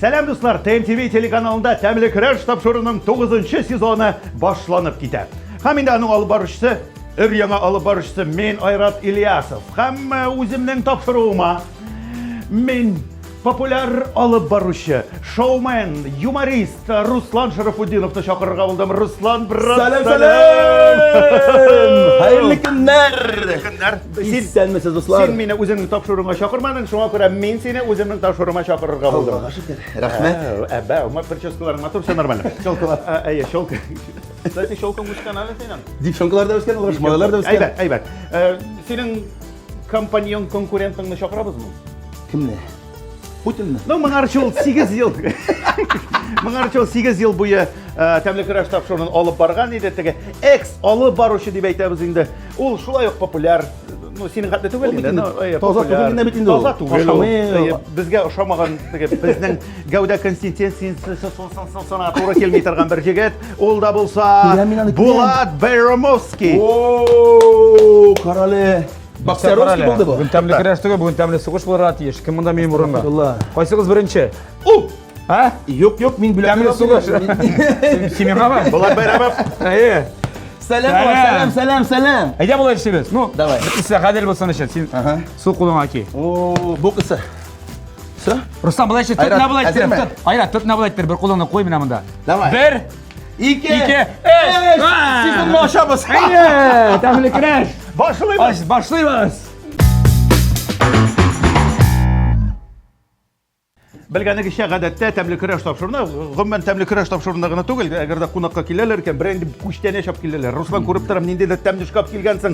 Сәләм дуслар, ТМТВ телеканалында тәмле көрәш тапшыруының 9 сезоны башланып китә. Һәм инде аның алып баручысы, өр яңа алып баручысы мен Айрат Ильясов. Һәм э, үземнең тапшыруыма мин Популяр алып баручы, шоумен, юморист Руслан Шәрәфутдиновны чакырырга булдым. Руслан, брат! Сәлам, сәлам! Хәерле көннәр! Хәерле көннәр! Исәнмесез, дуслар! Син мине үзеңнең тапшыруыңа чакырмадың, шуңа күрә мин сине үземнең тапшыруыма чакырырга булдым. Аллага шөкер. Рәхмәт. Әбә, умар прическаларың матур, все нормально. Челкалар. Әйе, челка. Кстати, челкаң үскән әле синең. Девчонкалар да үскән, малайлар да үскән. Әйбәт, әйбәт. Синең Компаньон конкурентыңны чакырабызмы? Кемне? Путинны? Ну, моңарчы ул 8 ел. Моңарчы ул 8 ел буе э, тәмле көрәш тапшыруын алып барган иде. Теге экс алып баручы дип әйтәбез инде. Ул шулай ук популяр ну, синең хәтле түгел инде. Таза түгел инде бит инде. Таза түгел. Безгә ошамаган теге безнең Гәүдә консистенциясе сона туры килми торган бер җегет. Ул да булса Булат Бәйрәмовский. О, карале. Боксеровский булды бу. Бүген тәмле көрәш түгел, бүген тәмле сугыш булырга тиеш. Кем монда минем урынга? Кайсыгыз беренче? У! А? Юк, юк, мин бүләк. Тәмле сугыш. Кимега бар? Булат Бәйрәмов. Әйе. Сәлам, сәлам, сәлам, сәлам. Әйдә болай эшлибез. Ну, давай. Бер кисә гадел булсын өчен. Син су кулыңа ки. О, бу кисә. Все? Рустам, былай итсек, тот набылай итсек. Әзерме? Тот. Айра, тот набылай итсек, бер кулыңны куй менә монда. Давай. Бер. Ике. Ике. Эш. Сезнең ашабыз. Әйе, тәмле креш. Башлыйбыз. Башлыйбыз. Белгәнегезчә, гадәттә тәмле көрәш тапшыруына, гомумән тәмле көрәш тапшыруына гына түгел, әгәр дә кунакка киләләр икән, берәр инде күчтәнә чап киләләр. Руслан күреп торам, нинди дә тәмле шкаф килгәнсең.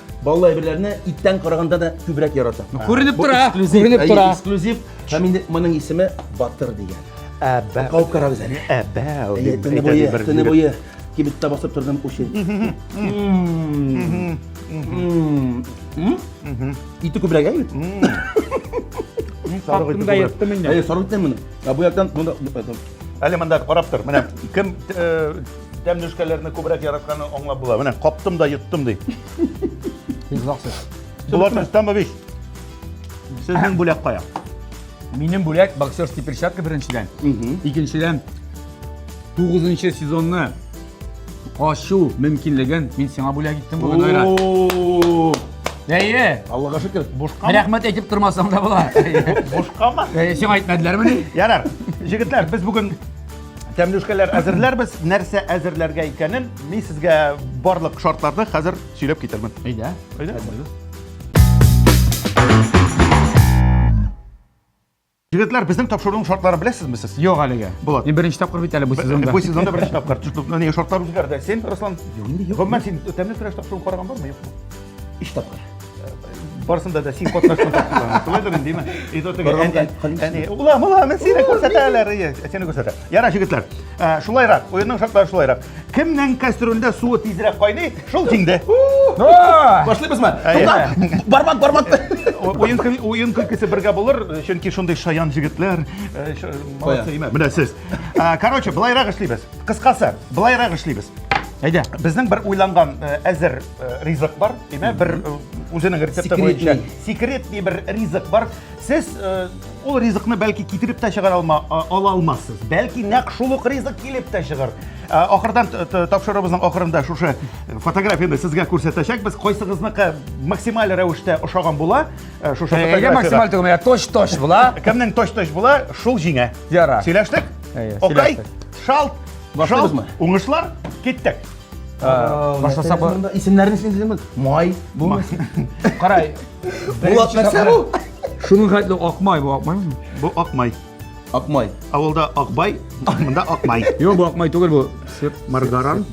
Баллы әйберләрне иттән караганда да күбрәк яратам. Күренеп Бу тора, эксклюзив, күренеп әйе, тора. Эксклюзив. Һәм инде моның исеме Батыр дигән. Әбә. Кауып карагыз әле. Әбә. Әйе, дип Төне әйтә буе, дибер, төне дибер. буе кибеттә басып тордым учи. Ите күбрәк әйе. Хатында еттем инде. Әйе, саргыттым моны. Ә бу яктан монда Әле монда карап тор. Менә кем э, Тәмле эшкәләрне күбрәк яратканын аңлап була. Менә каптым да йоттым ди. Ризаксыз. Булат Рөстәмович, сезнең бүләк кая? Минем бүләк боксерский перчатка беренчедән. Икенчедән, тугызынчы сезонны ачу мөмкинлеген мин сиңа бүләк иттем бүген, Айрат. О, Әйе, Аллага шөкер. Бушкамы? рәхмәт әйтеп тормасаң да була. Бушкамы? Әйе, Сиңа әйтмәделәрмени? Ярар. Җегетләр, без бүген Тәмлүшкәләр әзерләрбез. Нәрсә әзерләргә икәнен мин сезгә барлык шартларны хәзер сөйләп китермен. Әйдә. Әйдә. Егетләр, безнең тапшыруның шартларын беләсезме сез? Юк әлегә. Булат. Мин беренче тапкыр бит әле бу сезонда. Бу сезонда беренче тапкыр. Чүп, менә шартлар үзгәрде. Син, Руслан, гомумән син тәмле көрәш тапшыруын караган бармы, юкмы? өч тапкыр барысында да син катнашкан тапкырларны шулайдыр инде ме әни ула мула мен сине күрсәтәләр сине күрсәтә ярар җегетләр шулайрак уенның шартлары шулайрак кемнең кастрюльдә суы тизрәк кайный шул тиңде башлыйбызмы бармак бармак уен күлкесе бергә булыр чөнки шундый шаян җегетләр молодцы менә сез короче былайрак эшлибез кыскасы былайрак эшлибез әйдә безнең бер уйланган әзер э, ризык бар, димә, бер э, үзенең рецепты буенча. Секретный бер ризык бар. Сез э, ул ризыкны бәлки китереп тә чыгара алма, ала алмассыз. Бәлки нәкъ шул ук ризык килеп тә чыгар. Ахырдан тапшыруыбызның ахырында шушы фотографияне сезгә күрсәтәчәкбез. Кайсыгызныкы максималь рәвештә ошаган була, шушы фотография. максималь түгел, точ-точ була. Кемнең точ-точ була, шул җиңә. Яра. Сөйләштек? Окей. Шалт. Башлыйбызмы? Уңышлар. Киттек. Башласа бу. Исемнәрен син дидеме? Май, бу. Карай. Булат нәрсә бу? Шуның хәтле акмай бу, акмай. Бу акмай. Акмай. Авылда акбай, монда акмай. Юк, бу акмай түгел бу. Сеп маргаран.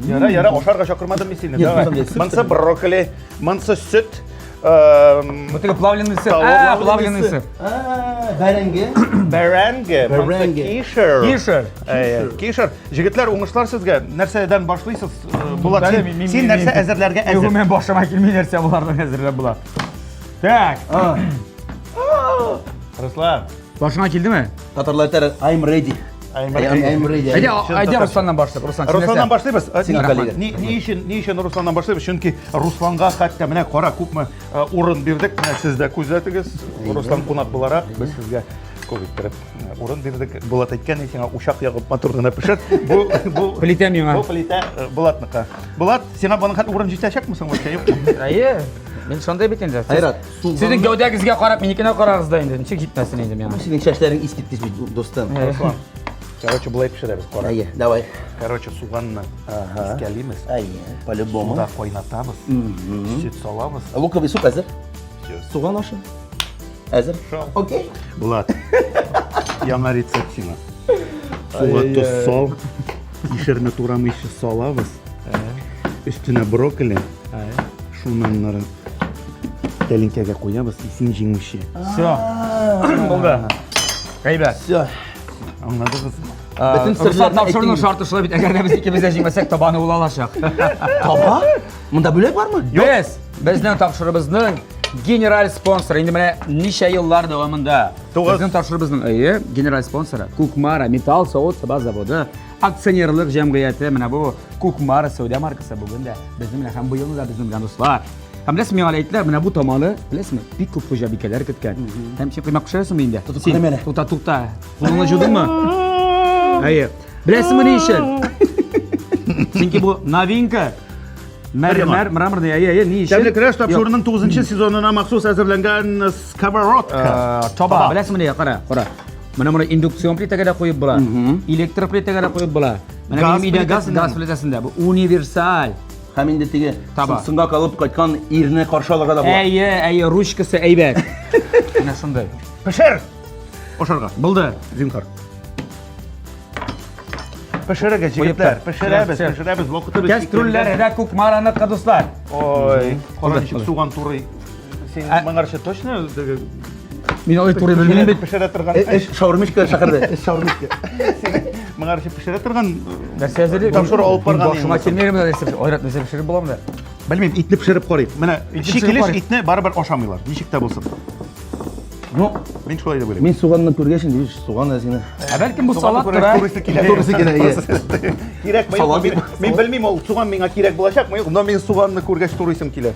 Яра, яра, ашарга чакырмадым мин сине. Монсы брокколи, монсы сөт, Вот это плавленый сыр. А, плавленый сыр. А, бәрәңге. Бәрәңге. Бәрәңге. Кишер. Кишер. Кишер. Җегетләр, уңышлар сезгә. Нәрсәдән башлыйсыз? Булат, син нәрсә әзерләргә әзер? Югым, башыма килми нәрсә булардан әзерләп була. Так. Руслан. Башыңа килдеме? Татарлар әйтәр, I'm ready. Әйдә Русланнан башлыйк. Руслан, Русланнан башлыйбыз. Ни өчен, ни өчен Русланнан башлыйбыз? Чөнки Русланга хәтта менә кара күпме урын бирдек. Менә сез дә күзәтегез. Руслан кунак буларак без сезгә күп иттереп урын бирдек. Булат әйткән ди сиңа учак ягып матур гына пешер. Бу бу плитә миңа. Бу плитә Булатныкы. Булат, сиңа моның хәтле урын җитәчәкме соң? Әйе. Мин шундый бит инде. Айрат. Сезнең гәүдәгезгә карап, минекенә карагыз да инде. Ничек җитмәсен инде миңа? Синең чәчләрең искит кичми, дустым. Руслан. Короче, былай пешерәбез, кара. Әйе, давай. Короче, суганны искәлимез. Әйе, по-любому. Суда кайнатабыз. Сөт салабыз. Луковый суп әзер. Суган ашы. Әзер. Окей. Булат. Яңа рецепт сиңа. Суга тоз сал. Ишерне турамыйча салабыз. Өстенә брокколи. Шуннан Тәлинкәгә куябыз, исең җиңүче. Все. Булды. Әйбәт. Все. Аңладыгыз. Бөтен серләрне тапшыруның шарты шулай бит. Әгәр дә без икебез дә җиңмәсәк, табаны ул алачак. Таба? Монда бүләк бармы? Без безнең тапшырыбызның генераль спонсоры. Инде менә ничә еллар дәвамында. Безнең тапшырыбызның әйе, генераль спонсоры Кукмара металл савыт саба заводы. Акционерлык җәмгыяте менә бу Кукмара сәүдә маркасы бүген дә безнең белән һәм быел да безнең белән дуслар. Һәм беләсең, миңа әйттеләр, менә бу таманы, беләсеңме, бик күп хуҗабикәләр көткән. Һәм син коймак пешерәсеңме инде? Тотып карама әле. Тута, тута. Кулыңны җудыңмы? Әйе. Беләсеңме ни өчен? Чөнки бу новинка. Мәрмәр, мраморный, әйе, әйе, ни өчен? Тәмле көрәш тапшыруының 9 сезонына махсус әзерләнгән сковородка. Э, Таба, беләсеңме ни, кара, кара. Менә моны индукцион плитәгә дә куеп була, электр плитәгә дә куеп була. Менә газ минем өйдә газ, газ плитәсендә бу универсаль. Һәм инде теге сыңга калып кайткан ирне каршы алырга да була. Әйе, әйе, ручкасы әйбәт. Менә шундый. Пешер! Ашарга. Булды. Зинхар. Пешерегез, җегетләр, пешерәбез, пешерәбез, вакытыбыз. Кәстрүлләр дә күк мараны кадуслар. Ой, кара ничек суган турый. Син моңарча точно Мин алай туры белмим бит. Пешерә торган. Э, эш шаурмичка шәһәрдә. Эш шаурмичка. Моңа каршы пешерә торган э, нәрсә әзер. Тамшыр алып барган. Башыма килмәгән менә нәрсә. Айрат нәрсә пешереп буламы да? Белмим, итне пешереп карыйк. Менә шикелеш итне барыбер ашамыйлар. Ничек тә булсын. Ну, мин шулай дип уйлыйм. Мин суганны күргәч инде, биш суган әзгене. Ә бәлкем бу салат тора. Турысы килә. Турысы килә. Кирәк, мин белмим, ул суган миңа кирәк булачакмы, юк, но мин суганны күргәч турысым килә.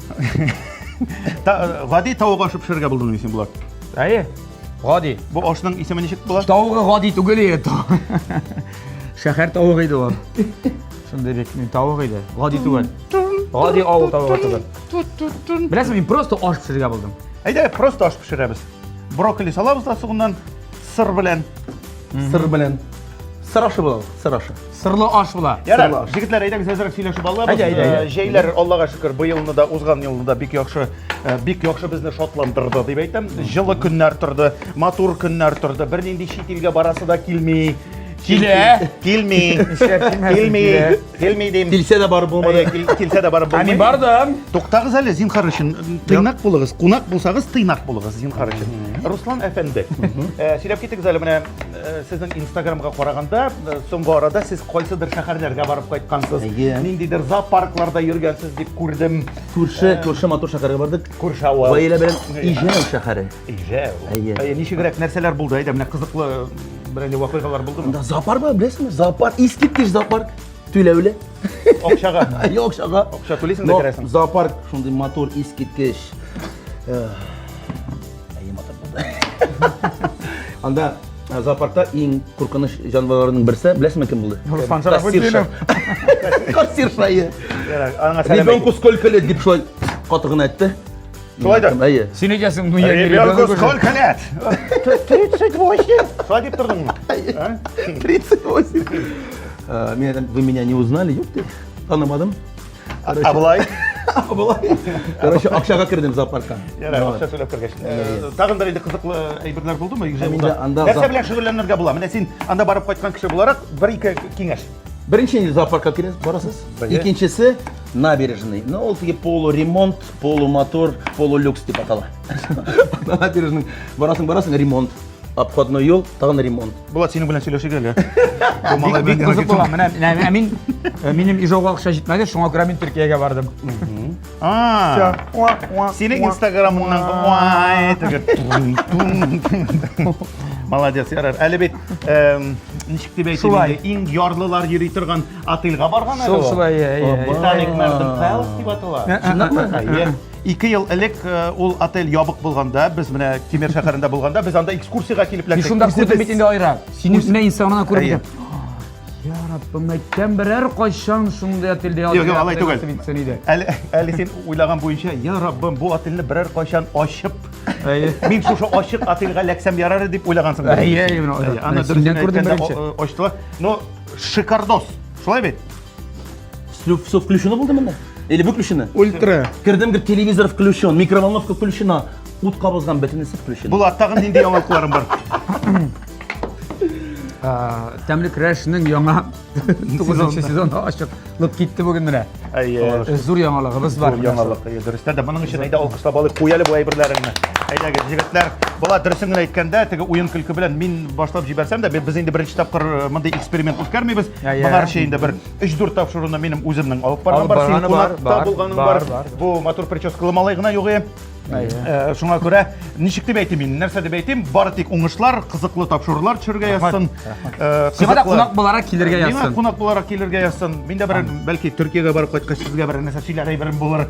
Гади тавык ашып пешерергә булдым дисең болар. Әйе. Гади. Бу ашның исеме ничек була? Тавыгы гади түгел иде. Шәһәр тавыгы иде ул. Шундый бик мин тавык иде. Гади түгел. Гади авыл тавыгы түгел. Беләсең, мин просто аш пешерергә булдым. Әйдә, просто аш пешерәбез. Брокколи салабыз да сугыннан сыр белән. Сыр белән. Сыр ашы була, сыр ашы. Сырлы аш була. Ярар, Сырлы аш. җегетләр, әйдәгез әзрәк сөйләшеп алабыз. Әйдә, әйдә, әйдә. Э, Җәйләр, Аллага шөкер, быелны да, узган елны да бик яхшы, э, бик яхшы безне шатландырды, дип әйтәм. Җылы көннәр торды, матур көннәр торды. Бернинди чит илгә барасы да килми. Килә. Килми. Нишләп килмәсен, Килми. килә. Килми дим. Килсә дә барып булмады. Әйе, кил- Килсә дә барып Ә булмый. мин бардым. Туктагыз әле, зинхар өчен. Тыйнак булыгыз. Кунак булсагыз, тыйнак булыгыз, зинхар өчен. Руслан әфәнде, э, сөйләп китегез әле менә Сезнең инстаграмга караганда, соңгы арада сез кайсыдыр шәһәрләргә барып кайткансыз. Ниндидер зоопаркларда йөргәнсез дип күрдем. Күрше, күрше матур шәһәргә бардык. Күрше авыл. Гаилә белән Иҗәү шәһәре. Иҗәү. Әйе. Ничегрәк нәрсәләр булды? Әйдә, менә кызыклы берәнди вакыйгалар булдымы? Монда зоопарк бар, беләсезме? Зоопарк, искиткеч зоопарк. Түләүле. Акчага. Әйе, акчага. Акча түлисең дә керәсең. Зоопарк шундый матур, искиткеч. Әйе, матур булды. Анда э, зоопаркта иң куркыныч җанварларның берсе, беләсеңме кем булды? Руслан Шәрәфетдинов. Кассирша. Ярар, аңа сәлам. Ребенку сколько лет дип шулай каты гына әйтте. Шулай да. Әйе. Син әйтәсең, ну я Ребенку сколько лет? 38. Шулай дип тордыңмы? 38. Э, Мен вы меня не узнали, юк, танымадым. Короче. Абылай. Абылай. Короче, акчага кердем зоопаркка. Ярар, акча сөйләп кергәч. Э, тагын бер инде кызыклы әйберләр булдымы Южамилда? Нәрсә белән шөгыльләнергә була? Менә син анда барып кайткан кеше буларак бер ике киңәш. Беренче инде зоопаркка керәсез, барасыз. Икенчесе набережный. Ну, ол теге полуремонт, полумотор, полулюкс дип атала. Набережный. Барасың, барасың, ремонт. Обходной юл, тагын ремонт. Булат, синең белән сөйләшик әле. Бик бик кызык була. Менә менә- ә мин ә, минем Ижауга акча җитмәде, шуңа күрә мин Төркиягә бардым. А, Уа, уа, Синең уа. инстаграмыңнан уай теге тун, тун, тун. Молодец, ярар. Әле бит эм, ничек дип әйтим Шулай. инде, иң ярлылар йөри торган отельга барган әле Шул- ул. шулай, иә, иә, иә. Титаник Мәрдем Пэлс дип атала. Ә, ә, Чынлапмы? ә, ә, Иә. Ике ел элек ул отель ябык булганда, без менә Кемер шәһәрендә булганда, без анда экскурсиягә килеп эләктек. Шунда күрдем бит инде Айрат. Сине үзенә инстаграмнан күреп идем. Я Раббым, мәктәм берәр кайчан шундый отельдә ятып. Юк, юк, алай түгел. Әле әле син уйлаган буенча, я Раббым, бу отельне берәр кайчан ачып, мин шушы ачык отельгә ләксәм ярар дип уйлагансың. Әйе, әйе, менә. Аны дөрес күрдем беренче. Ачтылар. Но шикардос. Шулай бит? Все, все включено булды монда? Или выключено? Ультра. Кердем, гер телевизор включен, микроволновка включена, ут кабызган бөтенесе включено. Булат, тагын нинди яңалыкларың бар? Тәмле крәшнең яңа 9 сезоны ачык. Лып китте бүген менә. Әйе. Зур яңалыгыбыз бар. Зур яңалык. Дөрестә дә моның өчен әйдә алкышлап алып куяле бу әйберләреңне. Әйдәгез, җегетләр, була дөресен генә әйткәндә, теге уен көлке белән мин башлап җибәрсәм дә, без инде беренче тапкыр мондый эксперимент үткәрмибез. Моңарчы инде бер 3-4 тапшыруны минем үземнең алып барган бар, син кунакта булганың бар. Бу матур прическалы малай гына югы. Э, шуңа күрә ничек дип әйтим мин, нәрсә дип әйтим, бары тик уңышлар, кызыклы тапшырулар төшергә язсын. Э, Сиңа да кунак буларак килергә язсын. Миңа кунак буларак килергә язсын. Мин дә бер бәлки Төркиягә барып кайткач сезгә бер нәрсә сөйләр әйберем булыр.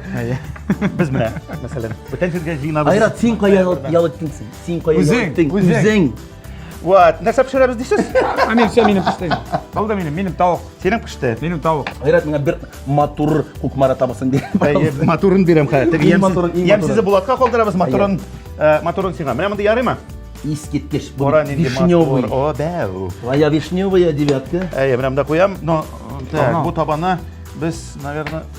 Без менә, мәсәлән, бүтән җиргә җыенабыз. Айрат, син кая ял иттең? Син кая ял иттең? Үзең. Вот, нәрсә пешерәбез дисез? Ә мин все минем пеште. Ул да минем, минем тавык. Синең пеште. Минем тавык. Гайрат миңа бер матур кукмара табасын бир. Матурын бирәм хәзер. Теге ямсыз Булатка калдырабыз матурын. Э, матурын сиңа. Менә монда ярыймы? Искиткеч. Бу вишневый. О, бәу. Твоя вишневая девятка. Әйе, менә монда куям, но э, так, бу табаны без, наверное,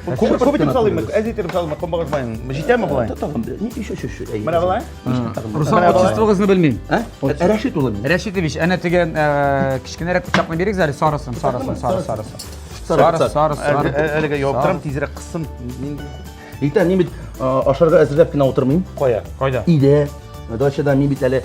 Күп күп итеп салыйммы? Әз итеп салыйммы? Комбагыз майын. Җитәме болай? Тагын бер. Ни еще еще. Менә болай? Руслан, отчествогызны белмим. Ә? Рәшит улы. Рәшитович, әнә теге э, кечкенәрәк пычакны бирик әле, сарысын, сарысын, сары, сарысын. Сары, сары, сары. Әлегә яуып торам, тизрәк кыссым. Иртә мин бит ашарга әзерләп кенә утырмыйм. Кая? Кайда? Өйдә. Дачада мин бит әле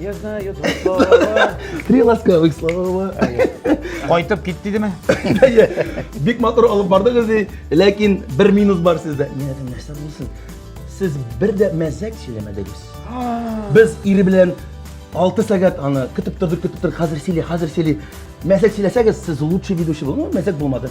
Я знаю два слова. Три ласкавых слова. Кайтып кит дидеме? Бик матур алып бардыгыз ди, ләкин бер минус бар сездә. Нәдән нәрсә булсын? Сез бер дә мәзәк сөйләмәдегез. Без ире белән 6 сәгать аны көтеп тордык, көтеп тордык. Хәзер сөйли, хәзер сөйли. Мәзәк сөйләсәгез, сез лучший ведущий булдыңыз. Мәзәк булмады.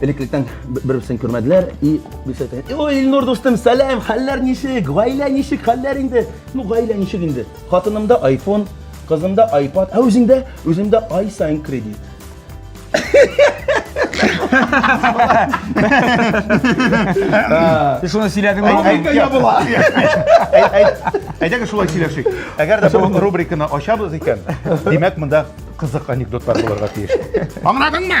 Элеклектән бер-берсен күрмәделәр и бисәтә. Ой, Илнур дустым, сәлам, хәлләр ничек? Гаилә ничек? Хәлләр инде? Ну, гаилә ничек инде? Хатынымда iPhone, кызымда iPad, ә үзеңдә? Үземдә ай сайын кредит. Сез шуны сөйләдегез. Рубрика ябыла. Әйдәгез шулай сөйләшик. Әгәр дә бу рубриканы ачабыз икән, димәк, монда кызык анекдотлар булырга тиеш. Аңладыңмы?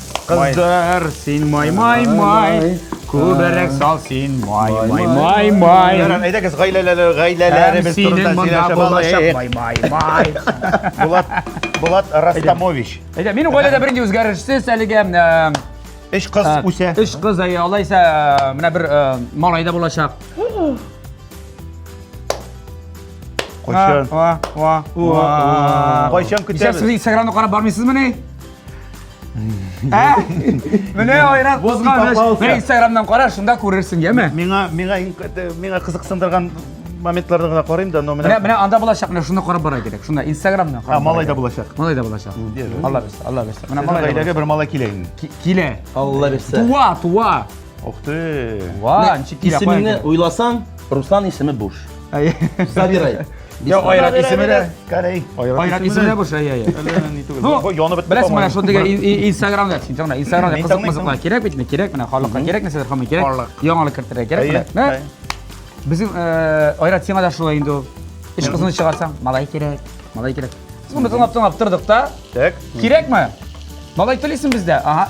Кыздыр син май май май, күберәк сал син май май май май. Ярар, әйдәгез гаиләләре гаиләләребез турында сөйләшә балачак май май май. Булат Булат Растамович. Әйдә, минем гаиләдә беренче үзгәрешсез әлегә Эш кыз үсә. Эш кыз, әйе, алайса менә бер малай да булачак. Кайчан? Кайчан көтәбез? Сез Инстаграмны карап бармыйсызмы ни? Ә? Менә айрат кызганыч. Менә Инстаграмнан кара, шунда күрерсең, яме? Миңа миңа миңа кызыксындырган моментларда гына карыйм да, но менә Менә менә анда булачак, менә шуны карап бара кирәк. Шунда Инстаграмнан карап. А, малай да булачак. Малай да булачак. Алла бирсә, Алла бирсә. Менә малай. Гаиләгә бер малай килә инде. Килә. Алла бирсә. Туа, туа. Ух ты. Ва, ничек килә. Исемеңне уйласаң, Руслан исеме буш. Забирай. Я айрат исеме дә Кәрәй. Айрат исеме дә борча, я, я. Әллә ни түгел. Бу янып бетте. Беләсең, менә шундый Инстаграмда, син тыңла, Инстаграмда кызык мызыклар кирәк бит, кирәк менә халыкка кирәк нәрсәләр хамый кирәк. Яңалык кертергә кирәк менә. Безнең э, Айрат сиңа да шулай инде ул. Эш кызын чыгарсаң, малай кирәк, малай кирәк. Соны тыңлап-тыңлап тордык та. Так. Кирәкме? Малай телисең бездә. Ага.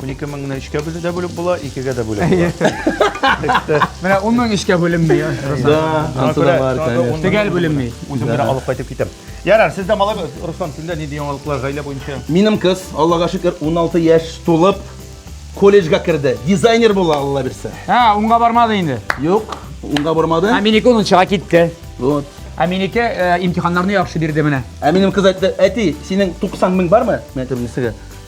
12 меңне өчкә бүлү дә бүлеп була, икегә дә бүлеп була. Менә 10 мең эшкә бүленми. Да, ансы да бар, конечно. Төгәл бүленми. Үзем генә алып кайтып китәм. Ярар, сездә малай, Руслан, сездә нинди яңалыклар гаилә буенча? Минем кыз, Аллага шөкер, 16 яшь тулып, колледжга керде. Дизайнер була, Алла бирсә. Һә, унга бармады инде. Юк, унга бармады. Ә минеке унынчыга китте. Вот. Ә минеке э, имтиханнарны яхшы бирде менә. Ә минем кыз әйтте, әти, синең 90 мең бармы? Мен әйттем, нисеге?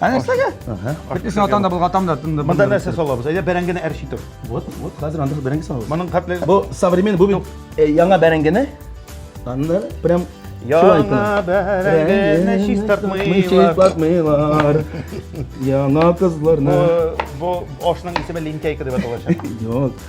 Әнә нәрсәгә? Бит исә атанда булга тамда тынды. Монда нәрсә салабыз? Әйдә бәрәңгене әрчи тор. Вот, вот, хәзер анда бәрәңге салабыз. Моның хәтле бу современ бу бит э, яңа бәрәңгене. Анда прям Яңа бәрәңгене чистартмыйлар. Чистартмыйлар. Яңа кызларны. Бу бу ашның исеме линтяйка дип аталачак. Юк.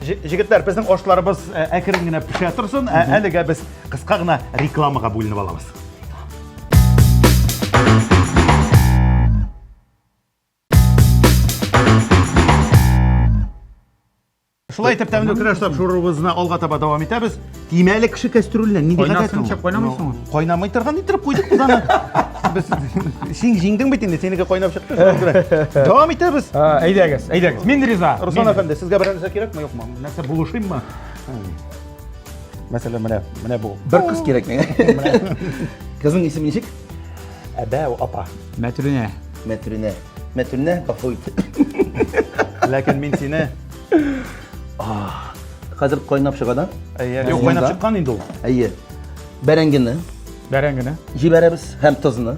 Җегетләр, безнең ашларыбыз э, әкрен генә пешә торсын, ә әлегә без кыска гына рекламага бүленеп алабыз. Шулай итеп тәмле көрәш тапшыруыбызны алга таба дәвам итәбез. Тимәле кеше кәстрүленә нинди гадәт ул? Кайнасынча кайнамыйсың ул. Кайнамый торган иттереп куйдык без аны. Без син җиңдең бит инде, синеке кайнап чыкты. Дәвам итәбез. Әйдәгез, әйдәгез. Мин риза. Руслан әфәнде, сезгә берәр нәрсә кирәкме, юкмы? Нәрсә булышыйммы? Мәсәлән, менә, менә бу. Бер кыз кирәк миңа. Кызның исеме ничек? Әбәү апа. Мәтрүнә. Мәтрүнә. Мәтрүнә, гафу ит. Ләкин мин сине Хәзер кайнап чыга да. Әйе, юк, кайнап чыккан инде ул. Әйе. Бәрәңгене. Бәрәңгене. Җибәрәбез һәм тозны.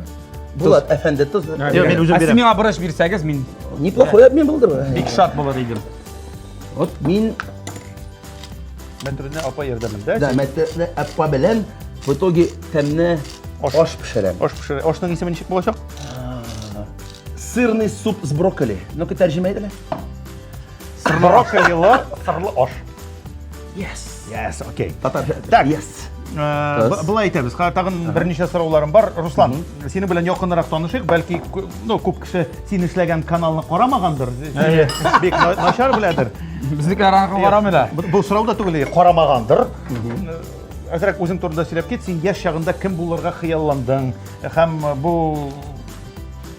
Булат әфәнде тоз. Юк, мин үзем бирәм. Сез миңа борыч бирсәгез, мин неплохой обмен булды. Бик шат булыр идем. Вот мин Мәтрүне апа ярдәмендә. Да, мәтрүне апа белән в итоге тәмне аш пешерәм. Аш пешерәм. Ашның исеме ничек булачак? Сырный суп с брокколи. Ну-ка, тәрҗемә итәле. Брокколилы сырлы аш. Yes. Yes, окей. Татарча. Так. Yes. Э, б- Былай әйтәбез, ха, тагын берничә сорауларым бар. Руслан, синең белән якынрак танышыйк, бәлки кү- ну, күп кеше син эшләгән каналны карамагандыр, Әйе. бик на- начар беләдер. Безнеке араңгы барамы да? Бу- Бу сорау да түгел, карамагандыр. Э, Әзрәк үзең турында сөйләп кит, син яшь чагында кем булырга хыялландың һәм бу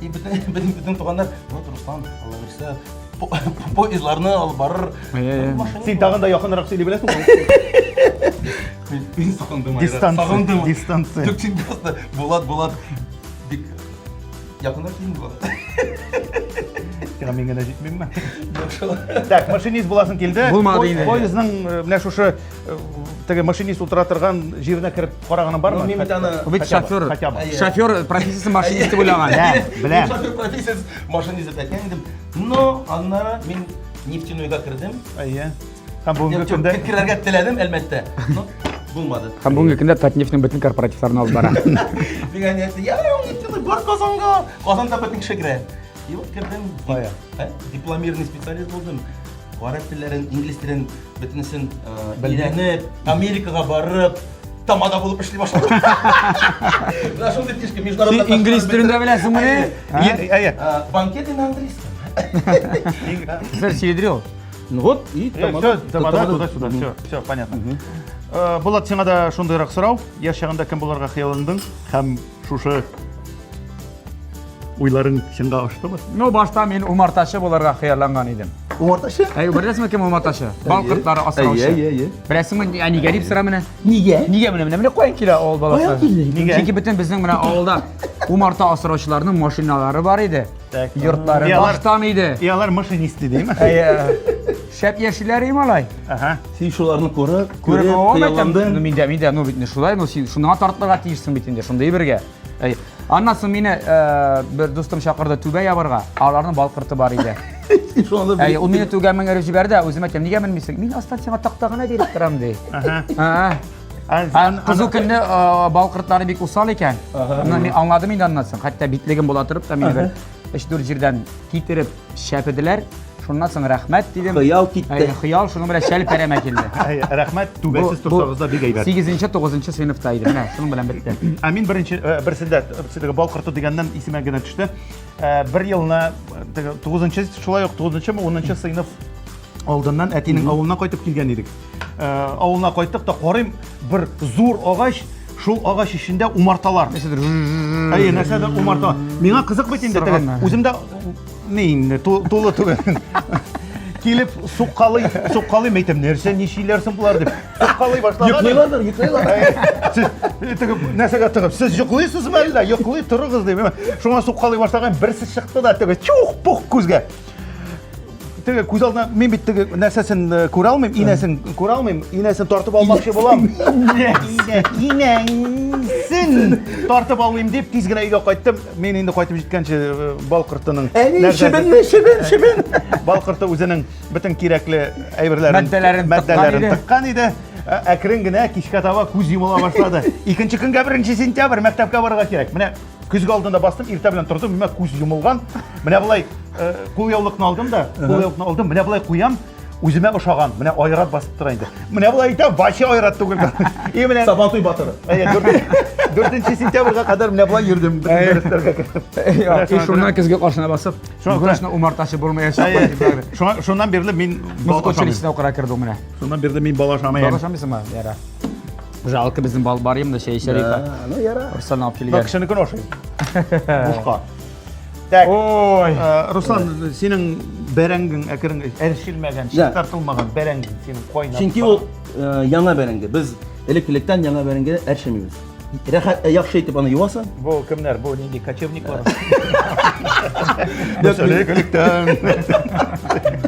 И бөтен туганнар, вот Руслан, Алла бирсә, поездларны алып барыр. Син тагын да якынрак сөйли беләсең. Мин сагындым. Дистанция. Дистанция. Түк син просто Булат, Булат. Бик якынрак килдең Булат. Сиңа мин генә җитмимме? Так, машинист буласың килде. Булмады инде. Поездның менә шушы теге машинист утыра торган җиренә кереп караганы бармы? Мин бит аны бит шофер. Шофер профессиясе машинист дип уйлаган. Беләм. Шофер профессиясе машинист дип әйткән идем. Но аннары мин нефтяныйга кердем. Әйе. Һәм бүгенге көндә керергә теләдем, әлбәттә. Но булмады. Һәм бүгенге көндә Татнефтьнең бөтен корпоративларын алып бара. Дигән нәрсә, я, нефтяный бар Казанга. Казанда бөтен кеше керә. И вот кердем. Дипломированный специалист булдым. Гарәп телләрен, инглиз телен бөтенесен өйрәнеп, Америкага барып, тамада булып эшли башлады. Менә шундый фишка международный. Син инглиз телен дә беләсеңме? Әйе. Банкет инде англиз. Сэр Сидрил. Ну вот, и тамада. Тамада туда-сюда. Все, все, понятно. Булат, сиңа да шундыйрак сорау. Яшь чагында кем булырга хыялландың? Һәм Шушы уйларың чынга аштымы? Ну, башта мин умартачы буларга хыялланган идем. Умартачы? Әй, беләсеңме кем умартачы? Бал кортлары асраучы. Әйе, әйе. Беләсеңме, ә нигә дип сора менә? Нигә? Нигә менә менә менә каян килә авыл баласы? Каян килде? Нигә? Чөнки бөтен безнең менә авылда умарта асраучыларның машиналары бар иде. Йортлары баштан иде. И алар машинист идеме? Әйе. Шәп яшиләр и малай. Ага. Син шуларны күреп, күреп хыялландың. Ну миндә, миндә, ну бит не шулай, ну син шуңа тартлыга тиешсең бит инде, шундый бергә. Әй. Аннан соң мине э, бер дустым чакырды түбә ябарга, аларның балкырты бар иде. Шуны Әй, ул мине түгә меңгереп җибәрде, ә үзем әйтәм, нигә менмисең? Мин астан сиңа такта гына биреп торам ди. Ага. Ага. Кызыл көнне э, балкыртлары бик усал икән. Аны мин аңладым инде аннан соң. Хәтта битлегем була торып та мин бер 3-4 җирдән китереп чәпеделәр. Шуннан соң рәхмәт дидем. Хыял китте. Хыял шуның белән шәл пәрәмә килде. Рәхмәт, түбәсез торсагыз да бик әйбәт. 8-нче, 9-нчы сыйныфта иде. Менә шуның белән бетте. Ә мин беренче э, берсендә теге бал корты дигәннән исемә генә төште. Э, бер елны теге 9-нчы шулай ук 9-нчы, 10-нчы сыйныф алдыннан әтинең авылына кайтып килгән идек. Э, авылына кайттык та карыйм бер зур агач шул агач эчендә умарталар нәрсәдер әйе нәрсәдер умарта миңа кызык бит инде үзем дә не инде тулы түгел килеп суккалый суккалый әйтәм нәрсә ничиләр соң болар дип суккалый башлаган йоклыйлардыр йоклыйлар сез тегеп нәрсәгә тыгып сез йоклыйсызмы әллә йоклый торыгыз дип шуңа суккалый башлаган берсе чыкты да теге чух пух күзгә теге күз алдына мин бит теге нәрсәсен э, күрә алмыйм инәсен күрә алмыйм инәсен тартып алмакчы булам инәсен тартып алмыйм дип тиз генә өйгә кайттым мин инде кайтып җиткәнче э, бал кортының әни чебен чебен чебен бал корты үзенең бөтен кирәкле әйберләрен матдәләрен тыккан иде Ә, әкрен генә кичкә таба күз йомыла башлады икенче көнгә беренче сентябрь мәктәпкә барырга кирәк менә көзге алдында бастым иртә белән тордым миңа күз йомылган менә былай э, кулъяулыкны алдым да кулъяулыкны алдым менә былай куям үземә ошаган менә айрат басып тора инде менә былай әйтәм вообще айрат түгел и менә сабантуй батыры дүртенче сентябрьгә кадәр менә былай йөрдем дәресләргә кереп и шуннан көзге каршына басып точно умартачы булмаячак шуннан бирле мин музыка училищесына укырга кердем менә шуннан бирле мин бала ашамыйм бала ашамыйсыңмы ярар Жалко безнең бал бар имда чәй эчәр иде. Ну яра. Руслан алып килгән. Бак кешене көношый. Бушка. Так. Ой. Э, Руслан, синең бәрәңгең әкрен әрчелмәгән, чистартылмаган бәрәңгең синең кайнап. Чөнки ул э, яңа бәрәңге. Без элек-электән яңа бәрәңге әрчемибез. Рәхәт, э, яхшы итеп аны юасың. Бу кемнәр? Бу нинди кочевниклар? Элек-электән.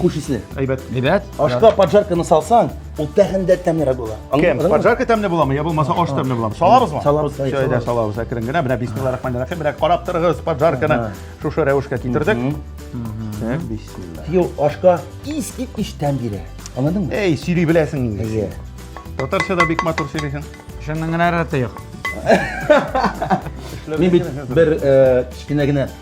Хуш исле. Әйбәт. Әйбәт. Ашка поджарканы салсаң, ул тәһен дә тәмлерәк була. Кем? Поджарка тәмле буламы? Я булмаса аш тәмле буламы? Салабызмы? Салабыз. Шәйдә салабыз. Әкрен генә менә бисмиллаһир рахманир рахим. Менә карап торыгыз, поджарканы шушы рәвешкә китердек. Так, бисмилла. Йо, ашка ис ит ис тәм бирә. Аңладыңмы? Эй, сөйли беләсең инде. Әйе. Татарчада бик матур сөйлисең. Шуннан гына рәте юк. Мин бит бер кечкенә генә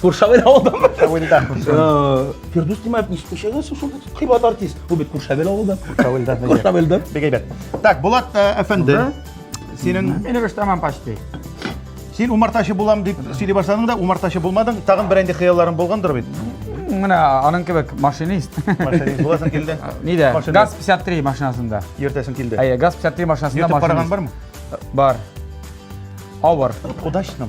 Куршавел ауылдан ба? Куршавелдан. Фирдус Тимаев не спешилась, что кыйбат артист. Бу бит Куршавел ауылдан. Куршавелдан. Куршавелдан. Бик әйбәт. Так, Булат э, әфәнде. Синең Мин рус тамам почти. Син умартачы булам дип сөйли башладың да, умартачы булмадың. Тагын бер инде хыялларың булгандыр бит. Менә аның кебек машинист. Машинист буласың килде. Нидә? ГАЗ 53 машинасында. Ертәсең килде. Әйе, ГАЗ 53 машинасында машинист. Ертып барган бармы? Бар. Авыр. Удачно.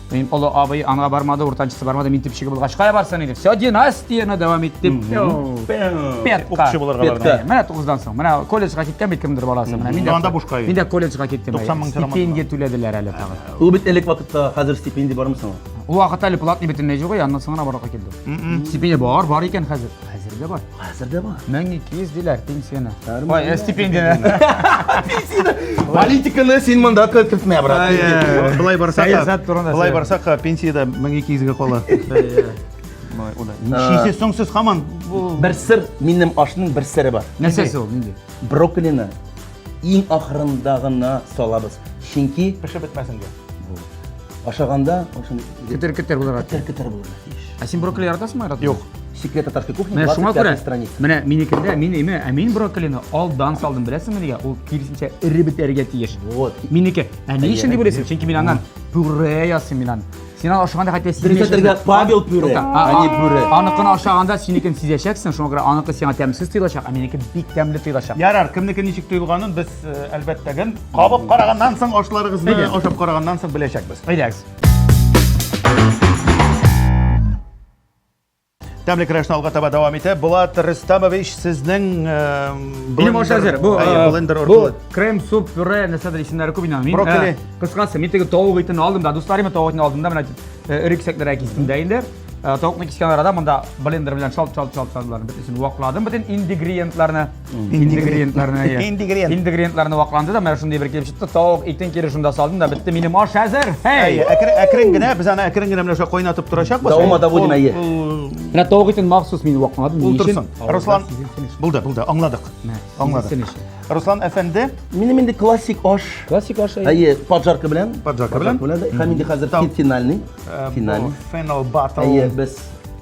Мин олы абый аңа бармады, уртанчысы бармады, мин төпчеге булгач кая барсын инде? Все династияне дәвам иттем. Петка. Укчы булырга Петка. барган. Менә 9-дан соң. Менә колледжга киткән бит кемдер баласы. Менә мин дә. Анда бушка йөри. Мин дә колледжга киттем. 90 мең тирамат. Стипендия түләделәр әле тагы. Ул бит элек вакытта, хәзер стипендия бармы соң? Ул вакытта әле платный бөтенләй юк, аннан соң гына барырга килде. Стипендия бар, бар икән хәзер. Хәзер дә бар. Хәзер дә бар. 1200 диләр пенсияне. Ой, э, стипендияне. Политиканы син монда кертмә, брат. Былай барсак, сәясәт турында. Былай барсак, пенсияда 1200 га кала. Ничесе соң сез хаман? Бер сыр, минем ашның бер сыры бар. Нәрсәсе ул нинди? Брокколины Иң ахырында гына салабыз. Чөнки пешеп бетмәсен дип. Ашаганда шуны кетер-кетер булырга тиеш. Кетер-кетер булырга тиеш. Ә син брокколи яратасыңмы, яратмыйсың? Юк. Секрет татарской кухни 25 страница. Менә минекендә, мин име, ә мин брокколины алдан салдым, беләсеңме нигә? Ул киресенчә эре бетәргә тиеш. Вот. Минеке. Ә ни өчен дип уйлыйсың? Чөнки мин аннан пюре ясыйм мин аннан. Син аны ашаганда хәтта сизмәячәксең. Павел пюре, әни пюре. Аныкын ашаганда синекен сизәчәксең, шуңа күрә аныкы сиңа тәмсез тоелачак, ә минеке бик тәмле тоелачак. Ярар, кемнеке ничек тоелганын без әлбәттә гел кабып караганнан соң ашларыгызны ашап караганнан соң беләчәкбез. Әйдәгез. Тәмле керәшне алга таба дәвам итә. Булат Рөстәмович, сезнең Минем аша әзер. Бу блендер бу крем, суп, пюре, нәрсәдер исемнәре күп инде. Брокколи. Кыскасы, мин теге тавык итен алдым да, дусларыма тавык итен алдым да, менә эре кисәкләргә кистем дә инде. Тавыкны кискән арада монда блендер белән шалт-шалт-шалт шалтларын бөтенесен вакладым, бөтен ингредиентларны. Ингредиентларны әйе. Ингредиент. Ингредиентларны вакланды да, менә шундый бер килеп чыкты. Тавык итен кире шунда салдым да, бетте минем аш әзер. Әйе, Эй! әкрен, әкрен генә, без аны әкрен генә менә шулай кайнатып торачакбыз. Давома доводим, әйе. Менә тавык итен махсус мин вакладым. Ул торсын. Руслан, булды, булды, аңладык. Аңладык. Руслан әфәнде, Минем инде классик аш. Классик аш. Әйе, поджарка белән. Поджарка белән. Һәм инде хәзер Тау. финальный. э, бу Финальный. Фенол Battle. Әйе, без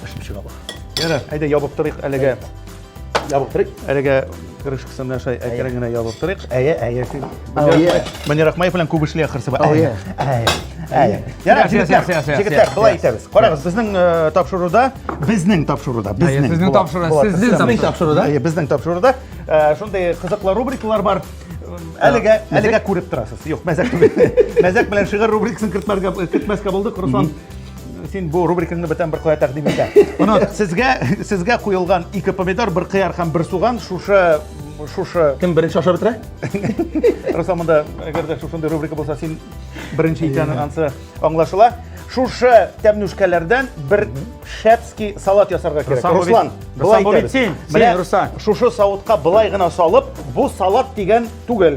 пешеп чыга бу. Ярар, әйдә ябып торыйк әлегә. Ябып торыйк. Әлегә крышкасы менә шулай әкрен генә ябып торыйк. Әйе, әйе. Менә Рахмаев белән күп эшли ахрысы. Әйе. Әйе. Ярар, җегетләр, былай итәбез. Карагыз, безнең э, тапшыруда, безнең тапшыруда, безнең. Сезнең тапшыруда, сезнең тапшыруда. Әйе, безнең тапшыруда э, шундый кызыклы рубрикалар бар. Әлегә, әлегә күреп торасыз. Юк, мәзәк. Мәзәк белән шигырь рубрикасын кертмәскә булдык. Руслан син бу рубрикаңны бүтән бер кая тәкъдим итә. Моны сезгә сезгә куелган ике помидор, бер кыяр һәм бер суган шушы шушы кем беренче ашап бетерә? Руслан монда әгәр дә шушындый рубрика булса, син беренче икәнен ансы аңлашыла. Шушы тәмнүшкәләрдән бер шәпский салат ясарга кирәк. Руслан, былай итәбез. Син, Руслан. Шушы савытка былай гына салып, бу салат дигән түгел.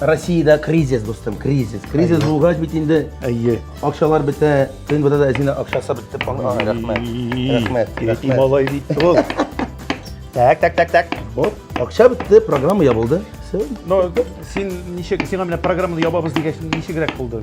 Россиядә кризис, дустым, кризис. Кризис булгач бит инде Әйе. акчалар бетә, төн бетә дә әзинә акчасы бетте. Ага, Рәхмәт. Рәхмәт, Ити рәхмәт. малай бит ул. Так, так, так, так. Вот, акча бетте, программа ябылды. Все. Но син ничек, сиңа менә программаны ябабыз дигәч, ничегрәк булды?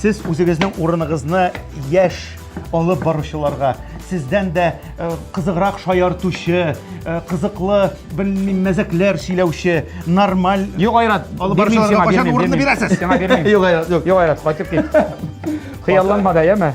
Сез үзегезнең урыныгызны яшь алып баручыларга, сездән дә э, кызыграк шаяртучы, э, кызыклы, белмим, мәзәкләр сөйләүче, нормаль... Юк, Айрат, алып баручыларга кайчан урынны бирәсез? Сиңа бирмим. Юк, Айрат, юк. Юк, Айрат, кайтып кит. Хыялланма да, яме?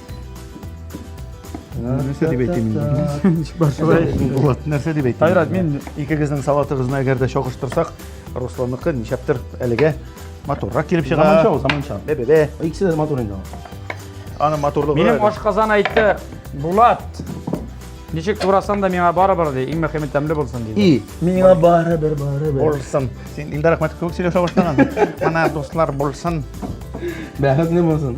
нәрсә дип әйтим инде бар шулай булат нәрсә дип әйтим айрат мин икегезнең салатыгызны әгәр дә чагыштырсак русланныкы ничәптер әлегә матуррак килеп чыга заманча ул заманча бе бе бе икесе дә матур инде аны матурлыгы минем ашказан әйтте булат ничек турасан да миңа барыбер ди иң мөхиме тәмле булсын ди и миңа барыбер барыбер булсын син илдар ахмәтов кебек сөйләшә башлаган мына дуслар булсын бәхетле булсын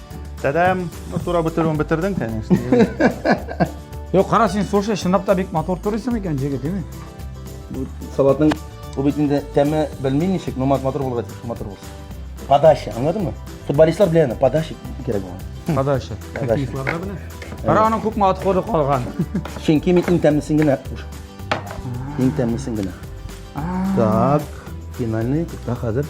Тәдәм! Ну, турап бетерүен бетердең, конечно. Юк, кара син, слушай, чынлап та бик матур турыйсың икән, җегет, дими? Бу салатның бу бит инде тәме белми ничек, но матур булырга тиеш, матур булсын. Подача, аңладыңмы? Футболистлар белә аны, подача кирәк булган. Подача. Хоккеистларда белә. Кара аның күпме отходы калган. Чөнки мин иң тәмлесен генә куш. Иң тәмлесен генә. Так, финальный, так хәзер.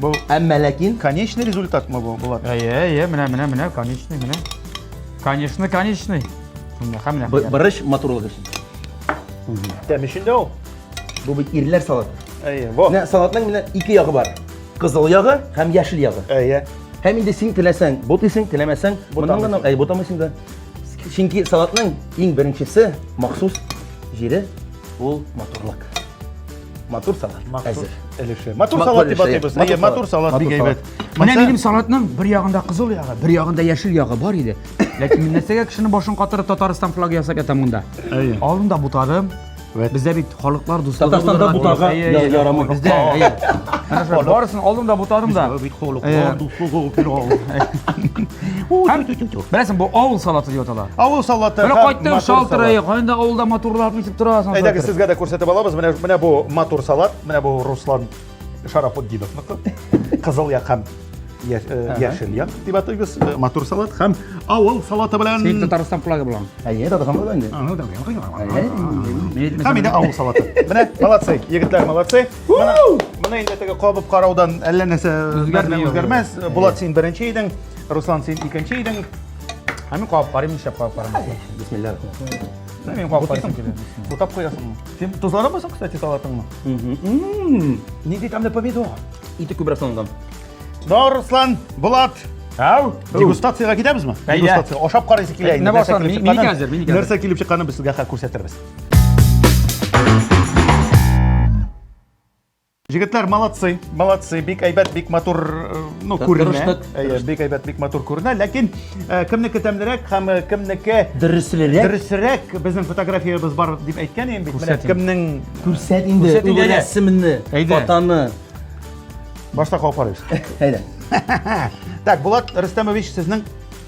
Бу әмма ләкин конечный результатмы бу, Булат? Әйе, әйе, менә, менә, менә, конечный, менә. Конечный, конечный. Менә, һәм менә. Борыч матурлык өчен. Тәм өчен дә ул. Бу бит ирләр салаты. Әйе, бу. Менә салатның менә ике ягы бар. Кызыл ягы һәм яшел ягы. Әйе. Һәм инде син теләсәң, бу тисең, теләмәсәң, моннан гына, әй, бутамыйсың да. Чөнки салатның иң беренчесе махсус җире ул матурлык. матур салат әзер. Өлеше. Матур салат дип атыйбыз. Әйе, матур салат бик әйбәт. Менә минем салатның бер ягында кызыл ягы, бер ягында яшел ягы бар иде. Ләкин мин нәрсәгә кешенең башын катырып Татарстан флагы ясап ятам монда? Әйе. Алдында бутадым. Бездә бит халыклар дуслыгы. Татарстанда бутарга ярамый. Бездә, әйе. Барысын алдым да бутадым да. Бит халыклар дуслыгы Һәм беләсең, бу авыл салаты дип атала. Авыл салаты. Менә кайттың шалтырайы, кайда авылда матурлап ничек торасың. Әйдәгез сезгә дә күрсәтеп алабыз. Менә менә бу матур салат, менә бу Руслан Шарафутдиновныкы. Кызыл як һәм яшел як дип атыйбыз. Матур салат һәм авыл салаты белән. Син Татарстан флагы белән. Әйе, Татарстан флагы инде. Һәм инде авыл салаты. Менә молодцы, егетләр молодцы. Моны инде теге кабып караудан әллә нәрсә үзгәрми үзгәрмәс. Булат син беренче идең, Руслан син икенче идең. Ә мин кабып карыйм, нишләп кабып карамыйсың? Бисмилла. Сен мин кабып карыйсың килә. Утап куясыңмы? Син тозланамысың, кстати, салатыңмы? Нинди тәмле помидор. Ите күбрәк салынган. Да, Руслан, Булат, Ау, дегустацияга китәбезме? Дегустация. Ашап карыйсы килә инде. Нәрсә килеп чыкканын, нәрсә килеп чыкканын без сезгә күрсәтербез. Җегетләр, молодцы, молодцы, бик әйбәт, бик матур, э, ну, күренә. Әйе, бик әйбәт, бик матур күренә, ләкин э, кемнеке тәмлерәк һәм э, кемнеке дөресрәк? Дөресрәк безнең фотографиябез бар дип әйткән идем бит. Менә кемнең күрсәт инде үз рәсеменне, фотоны. Башта калып карыйбыз. Әйдә. Так, Булат Рөстәмович, сезнең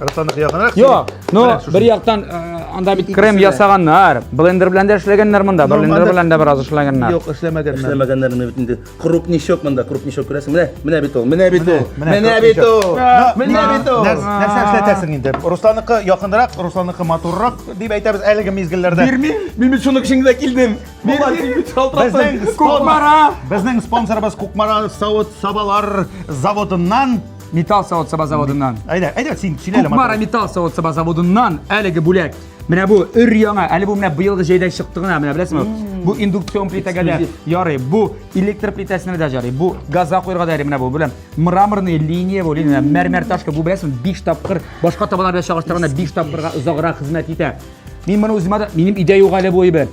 Руслан якынрак. Йо, ну бер яктан э, анда бит крем ясаганнар, блендер белән дә эшләгәннәр монда, блендер белән дә бераз эшләгәннәр. Юк, эшләмәгәннәр. Эшләмәгәннәр менә бит инде. Крупничок монда, крупничок күрәсең. Менә, менә бит ул, менә бит ул. Менә бит ул. Менә бит ул. Нәрсә эшләтәсең инде? Русланыкы якынрак, Русланыкы матуррак дип әйтәбез әлеге мизгелләрдә. Бирмим. Мин бит шуның өчен генә килдем. Безнең спонсорыбыз Кукмара савыт сабалар заводыннан Металл савыт саба заводыннан. Әйдә, әйдә, син сөйлә. Кукмара металл савыт саба заводыннан әлеге бүләк. Менә бу өр яңа, әле бу менә быелгы җәйдә чыкты гына, менә беләсеңме? Бу индукцион плитәгә дә ярый, бу электр плитәсенә дә ярый, бу газга куярга да ярый, менә бу белән мраморный линия бу, линия, мәрмәр ташка, бу беләсеңме, 5 тапкыр, башка табалар белән чагыштырганда 5 тапкырга озаграк хезмәт итә. Мин моны үземә дә, минем идә юк әле бу әйбер.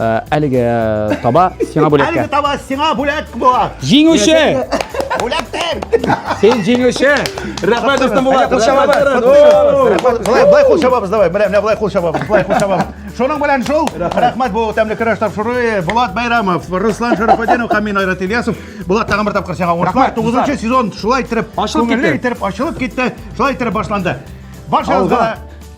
Ә, әлеге таба сиңа бүләккә. Әлеге таба сиңа бүләк була. Җиңүче! Бүләктер! Син җиңүче! Рәхмәт, дустым Булат! Кул чабабыз! Былай кул чабабыз, давай. Менә, менә былай кул чабабыз, былай кул чабабыз. Шуның белән шул. Рәхмәт бу тәмле көрәш тапшыруы. Булат Байрамов, Руслан Шәрәфетдинов һәм мин Айрат Ильясов. Булат тагын бер тапкыр сиңа уңышлар. 9 сезон шулай итеп, ачылып китте. Итеп ачылып китте. Шулай итеп башланды. Баршагызга